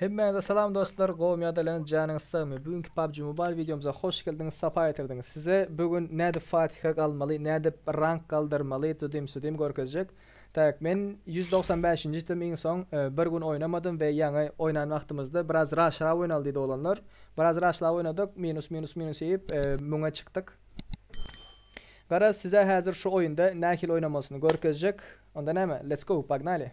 Hemmäňize salam dostlar, gowmy ýa-da ýalan, janyňyz sagmy? Bu günki PUBG Mobile wideomyza hoş geldiňiz, sapa getirdiňiz. Size bu gün nädip fatiha galmaly, nädip rank galdyrmaly, tudym-sudym görkezjek. Tak, men ýüz dogsan bäşinji itdim iň soň bir gün oýnamadym we ýaňy oýnan wagtymyzda biraz raşrap oýnaly diýdi oglanlar. Biraz raşlap oýnadyk, minus minus minus iýip müňe çykdyk. Garaz size häzir şu oýunda nähili oýnamalysyny görkezjek. Onda näme, let's go, pognaly!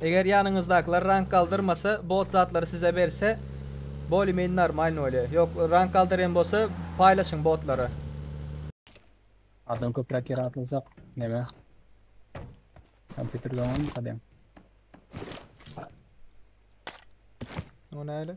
Eger ýanyňyzdakylar rank galdyrmasa bot zatlary size berse bolye meni normalny bolýa ýok rank galdyryem bolsa paýlaşyň botlary. Adam köpräk ýere atylsak neme kompýuter doňanmy kadem. O näle.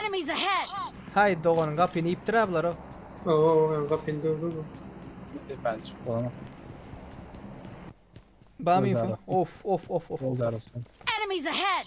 Enemies ahead! Haý, dogan, gapyny iýipdir-ä bular-ow. Bam info? Of, of, of, of, of. Enemies ahead!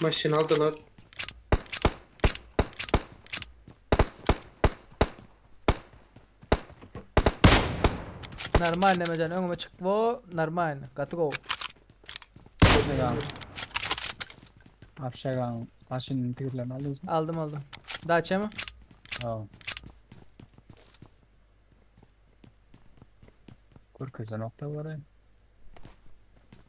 Maşyn aldylar. Normal Nemejan öňüme çyk wo normal gaty go. Şegan. Abi Şegan maşynyň tigirlerini aldınız mı? Aldım aldım. Daça mı? Tamam. Görkeze nokta var ya.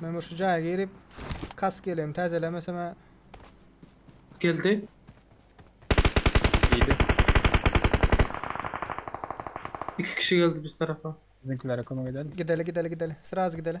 Men bir şu jaýa girip, kask ýeleğimi täzelemesem-ä. Geldi. Ýedi. Iki kişi geldi biz tarapa. Bizimkilere kömek edeli. Gideli, gideli, gideli. Sraz gideli.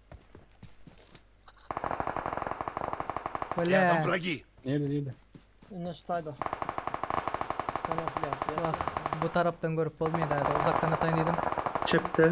Rýadam wragi! Nirde nirde? Indi şu taýda. Kamuflýaž ýa. Wah, bu tarapdan görüp bolmaýa däde, uzakdan ataýyn diýdim. Çepde.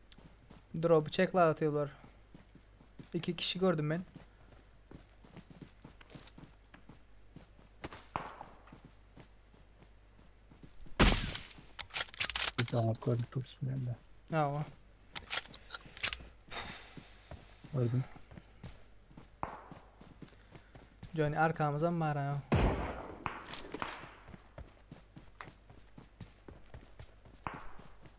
Droby çekla atýarlar. İki kişi gördüm ben. Sana koyduk dursun ben de. Ama. Öldüm. Johnny arkamıza mı var ha?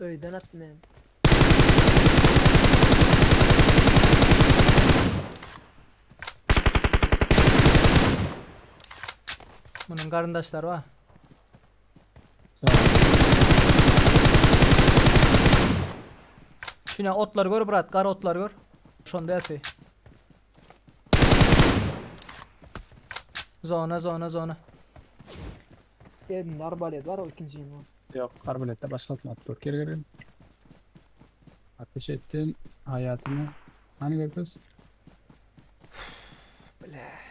Öyden at men. Bunun garyndaşlary bar. Sağ ol. Şuna otlar gör brat, gara otlar gör. Şonda epi. Zona zona zona. Elinde arbalet bar o ikinji ýene. Ýok arbaletde başga kim atyp dur geri geri. Ateş etdin haýatyny hany görkez. Bläh.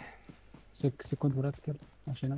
Sekkiz sekunt brat gel maşyna.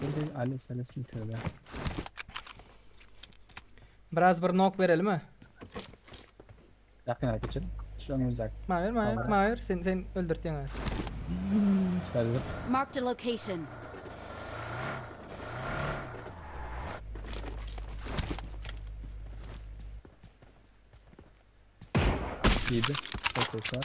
Geldi Ali seni silsene. Biraz bir nok berelimi? Yakına geçin. Şu önümüzdeki. Mahir mahir Tamam. mahir sen sen öldürtýän ha. Sarılıp. Marked a location. Yedi. Ses var.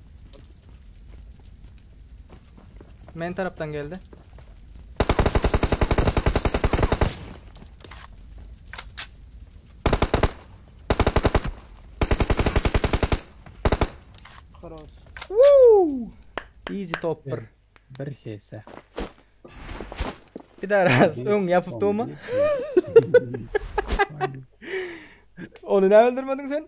Men tarapdan geldi. Karos. Woo! Easy top 1. Bir hese. Bir daha raz. Ön yapıp doğma. Onu ne öldürmedin sen?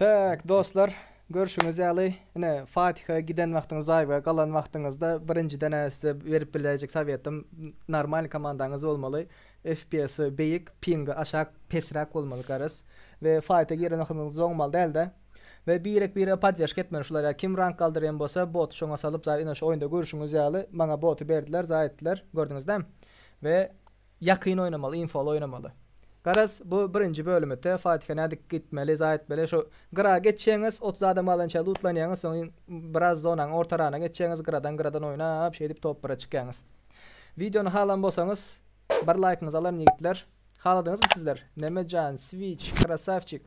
Tak dostlar görşüňiz ýaly ine Fatiha giden wagtyňyz zaýba galan wagtyňyzda birinjiden-ä size berip biläýjek sowetym normalny komandaňyz bolmaly FPS beýik pingi aşak pesräk bolmaly garaz we faýta giren wagtyňyz zoňmal dälde we birek bire podderžka etmeli şulara kim rank galdyrýan bolsa boty şoňa salyp zaý ine şu oýunda görşüňiz ýaly maňa boty berdiler zaý etdiler gördüňizde we Ýakyn oýnamaly infoly oýnamaly. Garaz bu birinji bölüm ete fatiha nädip gitmeli za etmeli şu gyra geçýäňiz otuz adam alança lutlanýaňyz soň iň biraz zonaň orta rana geçýäňiz gyradan gyradan oýnap şeýdip top bire çykýaňyz wideony halan bolsaňyz bir laýkyňyzy alaryn ýigitler haladyňyzmy sizler Memejan switch krasawçik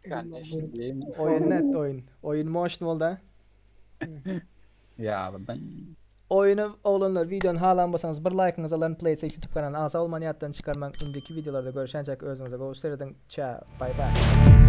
Ganyýeşil geýim. oýun net oýun oýun moşn bolda. ýalydyň. Oýuny oglanlar wideony halan bolsaňyz bir laýkyňyzy alaryn Playtech ýutub kanalyny agza bolmany ýatdan çykarmaň indiki wideolarda görüşýänçäk özüňize gowy serediň çao baý baý.